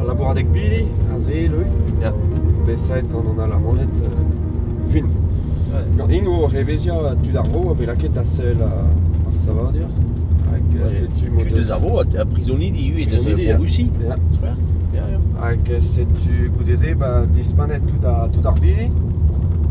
Al labouradeg bili, a zeel eo, Ya. bet saet gant an Alamaned euh, fin. Gant int o reveziañ tud ar vro a bet lakaet da sell ar savadur. Hag euh, setu m'o Tu deus deus ar vro, ha prizonidi ivez deus Prizonidi, en Russie. Ya. Super. Ya, ya. Hag setu goude-se ba, dispanet tout, ar- tout ar bili.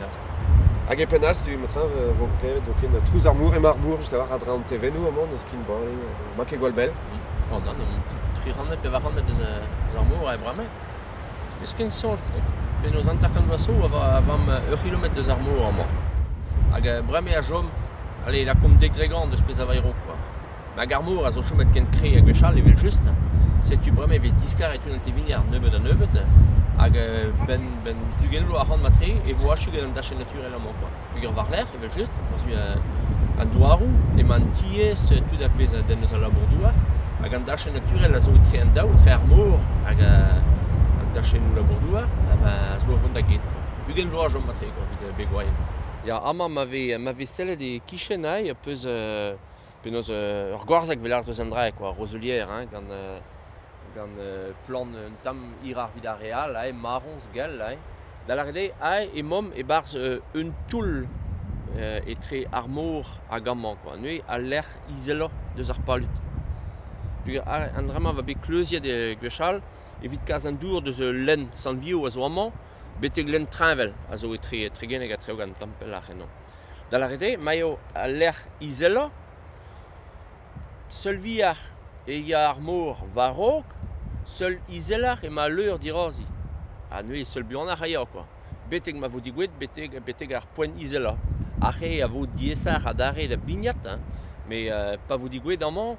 Ya. Hag e penn-all, ma-treñv, e vo klevet zoken trouz ar mor, emañ ar mor just a-walc'h a-dra an tevennoù amañ, n'eus ken bale, ma ket gwall bell. Oh nann, omp tri rannet, pevar rannet eus eus ar mor e bremañ. N'eus ken sort, penaos hanter kant vloaz 'zo, a va a vamm ur c'hilometr eus ar mor amañ. Hag bremañ a chom, allez, lakaomp dek dre gant eus pezh a vaero, quoi. Mag ar mor a zo chomet ken kre ha gwechall evel-just, setu bremañ e vez diskaret unan tevini ar nebeud-ha-nebeud, hag benn benn ugent vloaz ac'hann mat-tre e vo achu gant an dachenn naturel amañ koa. Peogwir war-lerc'h evel-just, war-zu an douaroù, emañ an tiez, tud a pezh a denn eus al labour-douar, hag an dachenn naturel a zo etre an daou, etre ar mor hag an tachennoù labour-douar, a zo o vont da get koa. Ugent vloaz 'chom mat-tre koa evit begwaien. Ya, amañ ma vez ma vez sellet e-kichen aze, peus Penaos ur goarzeg pelec'h deus un drae kwa, roselier hein, gant gant plant un tamm hiroc'h evit ar re all, aze marroñs gell aze. Da lâret eo, aze emaomp e-barzh un toull etre ar mor hag amañ kwa, neuze al lec'h izellañ deus ar palud. Peogwir an dra-mañ a oa bet kleuziet gwechall evit kas an dour deus ul lenn Sant-Vio a zo amañ betek lenn Treñvel a zo etre Tregeneg ha Treogan, tamm pelloc'h ennomp. da lâret eo ma eo al lec'h izelañ. Seul vihañ e ya ar mor war-raok, seul izeloc'h emañ al leur dirazi. Ha neuze seul buanoc'h a ya kwa, betek ma vo digouet betek betek ar poent izelañ. Ar c'hê a vo diaesoc'h adarre da bignat hein, met pa vo digouet amañ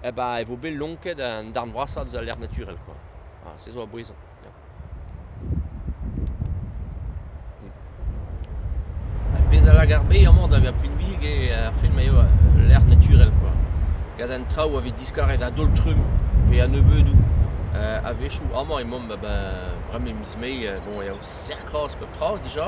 eh ba e vo bet lonket an darn vrasañ deus al lec'h naturel kwa. Ha se zo a bouez. Ar pezh a lak ar bez amañ da vezañ pinvidik eo ar fed ma eo ul lec'h naturel kwa. Gant an traoù a vez diskaret a-daol-trumm pe a-nebeudoù. A-wechoù amañ emaomp a-benn bremañ miz Mae, bon, e-o serr-kroaz pep tra dija.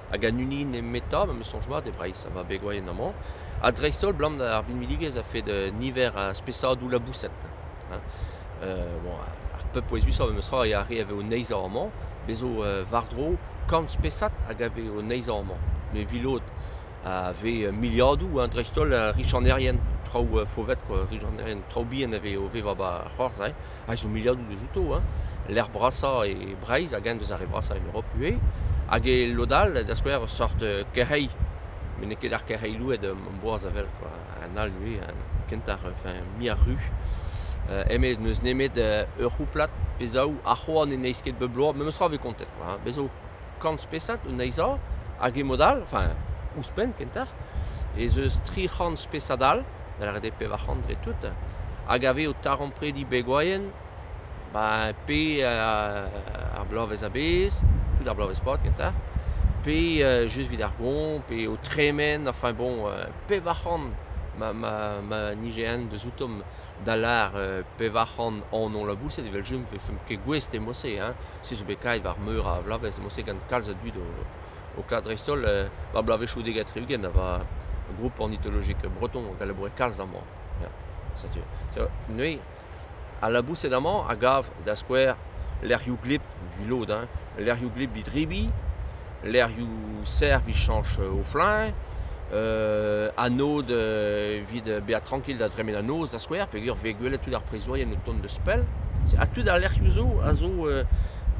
hag an hini nemetañ ma 'm eus soñj mat e Breizh, a va begwaien amañ, ha dreist-holl 'blam ar binvidigezh a-fed niver a spesadoù laboused. hein. bon, ar pep pouezusañ memestra a re a vez o neizhañ amañ, bez' zo war-dro kant spesad hag a vez o neizhañ amañ. Me 'vi lod a vez miliadoù hein, dreist-holl richanerien, traoù fauvet quoi, richanerien, traoù bihan a vez o vevañ 'ba ar c'hoarzh hein. a zo miliadoù dezouto, hein, lec'h brasañ e Breizh hag eñ deus ar re brasañ en Europe ivez. Hag e lod all, da skouer, ur sort euh, kerc'heilh. Met n'eo ket ar kerc'heilh louet am boaz a vel, quoi. Un all nevez, un kentañ, enfin, muiañ ru. Euh, eme n'eus nemet euh, ur c'houplad pe zaou, ha c'hoant ne neizh ket bep bloaz. Memes tra 'vez kontet, quoi, hein. Bez zo. kant spesad anezhañ, hag e-mod-all, enfin, ouzhpenn kentoc'h, ez eus tri c'hant spesad all, da lâret eo pevar c'hant dre tout, hag a vez o taremprediñ begoaien ben pe ar bloavezh a-bezh, tout ar bloavezh-pad kentoc'h, pe just evit ar goañv, pe o tremen, enfin bon, pevar c'hant ma ma ma nije eñ deus outom da lâr pevar c'hant anv-laboused evel-just ne vefemp ket gouest e mod-se hein. Se zo bet kavet war meur a vloavezh mod-se gant kalz a dud o klask dreist-holl war bloavezhioù dek ha tri-ugent a oa group ornitologek breton hag a laboure kalz amañ. Ya setu neuze al laboused amañ a gav da skouer lec'hioù gleb evit lod, lec'hioù gleb evit rebiñ. lec'hioù servij chañs o fluñv, anod evit bezañ trankil da dremen an noz da skouer peogwir 'vez gwelet tud ar prizourien o tont deus pell. Ha tud al lec'hioù zo a zo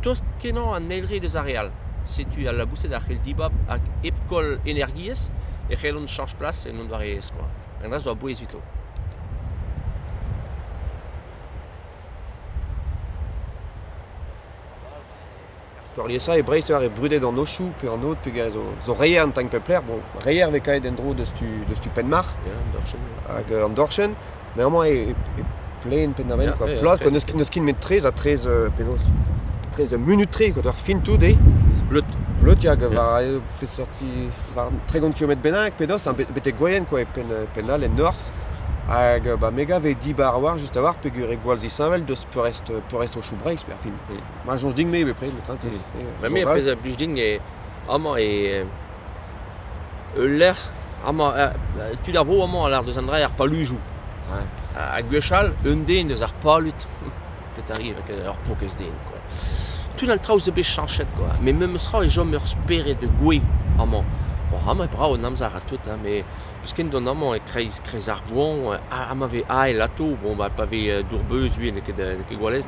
tost-kenañ an eil re deus ar re all. Setu al laboused a c'hell dibab hag hep koll energiezh e c'hellont chañs plas en un doare-aes kwa. Un dra zo a-bouez evito. Peurliesañ e Breizh e oa re brudet an Ochoù pe an Aod pegen zo reier an tagn pep lec'h. Bon, reier e vez kavet en-dro deus tu deus tu Penmarc'h an dorchenn hag an dorchenn, met amañ e plen Penn-ar-Vên quoi, ploaz pa n'eus ket n'eus ket nemet traezh ha traezh penaos traezh munut-tre eo ur fin tout eo. Bleud. Bleud hag war peseurt war un tregont kilometr bennak pe dost, betek Gwaien quoi, e penn penn all en norzh. Hag ba me 'gav eo dibar a-walc'h just a-walc'h peogwir eo gwall zisheñvel deus peurrest peurrest Ochoù Breizh, berfin. Ma soñj din-me bepred, met te... Ma me a pezh a blij din eo amañ eo ul lec'h amañ tud ar vro amañ a lar deus an dra ar palujoù. Ha gwechall un den eus ar palud petari ur pokez den quoi. Tud an traoù zo bet chañchet quoi. Met memes tra e chom ur spered gouez amañ. Bon amañ e brav an amzer ha tout, met peus ken don amañ e-kreiz kreiz ar goañv ha ma vez ael atav, bon bah pa vez dour-beuz n'eo ket gwalez.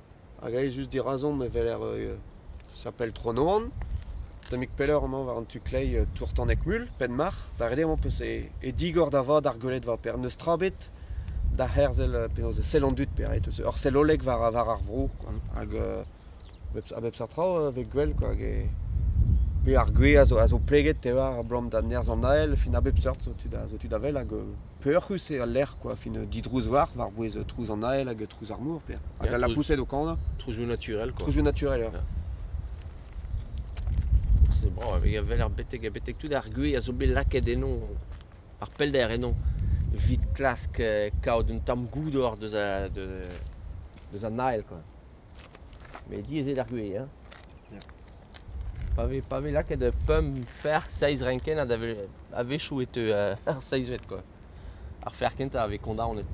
Hag aezus dirazomp e weler chapel Tronôan. Tammig pelloc'h emañ war an tu-kleiz Tourtaneg-Mul, Penmarc'h. Da ret eo amañ peus e digor da vat ar gweledva-per. N'eus tra ebet da herzel penaos e sell an dud pe ret. Ur sell hollek war ar vro koa. Hag a bep seurt traoù a vez gwell koa. Pe ar gwez a zo pleget, te oar, abalamour da nerzh an Ael. Fin a bep seurt zo tud a wel hag... Peoc'hus eo al lec'h, quoi. Fin, didrouz war, war-bouez trouz an ael hag trouz ar mor, Pierre. Hag Ja, al lapoused o kanañ. Trouzioù naturel, quoi. Trouzioù naturel, ja. C'est bravo, il avait l'air betek, betek tout ar gwez a zo bet lakaet eno, ar pellder eno, evit klask euh, kaout un tamm goudor deus a, de, deus an ael, quoi. Mais diaes eo d'ar gwez, hein. Pa vez pa vez lakaet pemp ferc'h seizh renkennad a-wechoù e teu ar seizhvet kwa. Ar ferc'h kentañ a vez kondaonet.